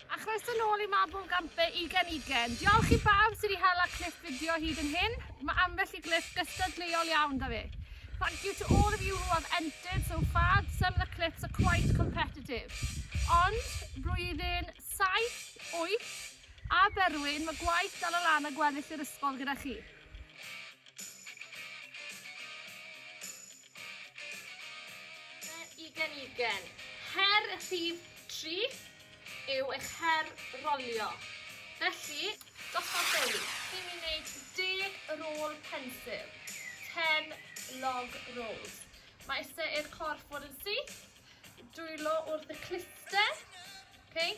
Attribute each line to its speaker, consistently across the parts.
Speaker 1: A chroeso nôl i Mabel Gampe Ugen Ugen. Diolch i bawb sydd wedi hela clip fideo hyd yn hyn. Mae ambell i glip gystadleuol iawn da fi. Thank you to all of you who have entered so far. Some of the clips are quite competitive. Ond, blwyddyn 7, 8, a Berwyn, mae gwaith dal o lan a gweddill yr ysgol gyda chi. Ugen Ugen. Her rhif tri yw eich her rolio. Felly, gosod dewi i mi wneud deg rôl pensil. Ten log rolls. Mae eisiau i'r corff fod yn syth. Dwylo wrth y cluster. Okay.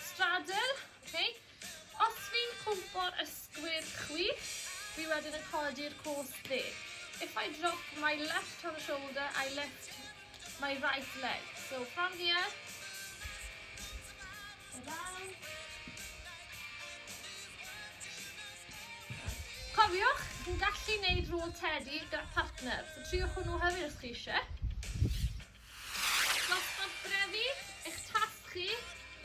Speaker 1: straddle, okay. Os fi'n cwmpo'r ysgwydd chwith, fi wedyn yn codi'r cwrs dde. If I drop my left hand shoulder, I lift my right leg. So from here, down. Cofiwch, chi'n gallu neud rôl tedi gyda partner. So triwch hwnnw hefyd os chi eisiau. Dosbarth Brefu, eich tasg chi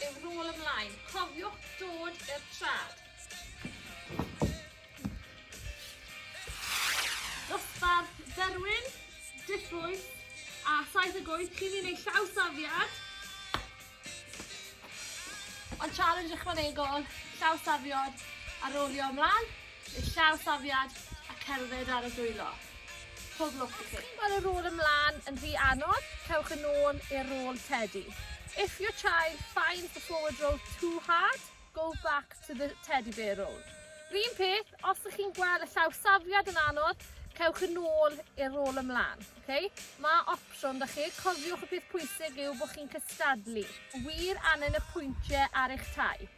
Speaker 1: yw rôl ymlaen, cofiwch dod i'r traed. Dosbarth Berwyn, dillbwyll a 78 chi'n un ei llawsafiad. Ond challenge ychwanegol, llawsafiad a rowlio ymlaen, neu llawsafiad a cerdded ar y dwylo. Pob lwc i chi. Mae y rôl ymlaen yn rhy anodd, cewch yn ôl i'r rôl tedi. If your child finds the forward roll too hard, go back to the teddy bear roll. R'un peth, os ych chi'n gweld y llawsafiad yn anodd, cewch yn ôl i'r rôl ymlaen. Oce, ma' opsiwn 'da chi. Cofiwch y peth pwysig yw bod chi'n cystadlu. Wir angen y pwyntie ar eich tai.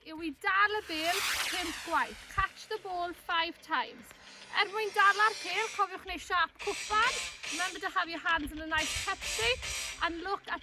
Speaker 1: yw i dal y bêl 5 gwaith. Catch the ball 5 times. Er mwyn dala'r pêl, cofiwch neu siap cwpan. Remember to have your hands in a nice cup shape and look at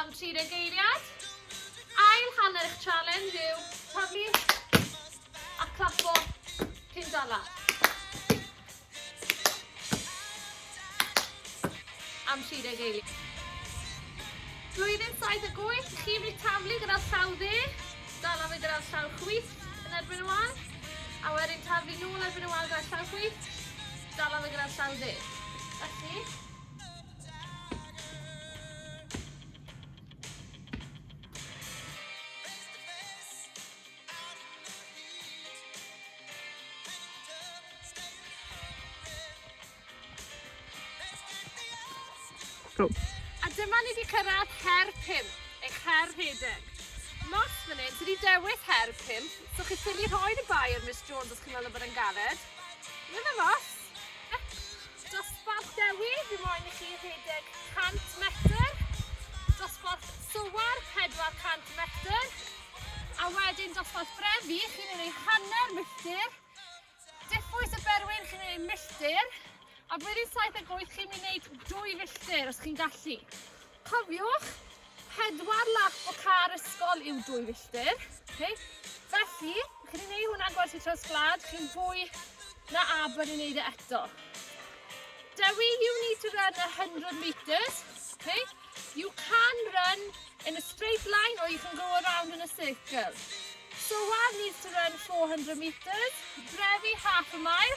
Speaker 1: Am 30 geiriad. Ail hanner eich challenge yw taflu a clapo cyn dala. Am 30 geiriad. Blwyddyn 7 ac 8, chi wedi taflu gyda'r llaw dde, dala fe gyda'r llaw chwith yn erbyn y wal, a wedyn taflu nôl erbyn y wal gyda'r llaw chwith, dala fe gyda'r llaw dde. Felly, A dyma ni 'di cyrraedd her pump, eich her rhedeg. Mas fan hyn, ti 'di dewis her pump, so chi'n ffili rhoi yn y bae ar Miss Jones os chi'n meddwl bod e'n galed. Dyna fo. Dosbarth Dewi, fi moyn i chi rhedeg 100 metr. Dosbarth Sowar, 400 metr. A wedyn dosbarth Brefi, chi'n ei wneud hanner milltir. Diffwys y Berwyn, chi'n ei wneud milltir. A blwyddyn 7 ac 8, chi'n mynd i wneud dwy filltir, os chi'n gallu. Cofiwch, pedwar lap o car ysgol yw dwy filltir. Okay? Felly, chi'n ei wneud hwnna'n gwersi traws gwlad, chi'n fwy na aber i wneud e eto. Dewi, you need to run 100 metres. Okay? You can run in a straight line or you can go around in a circle. Soar needs to run 400 metres. Drefi, half a mile.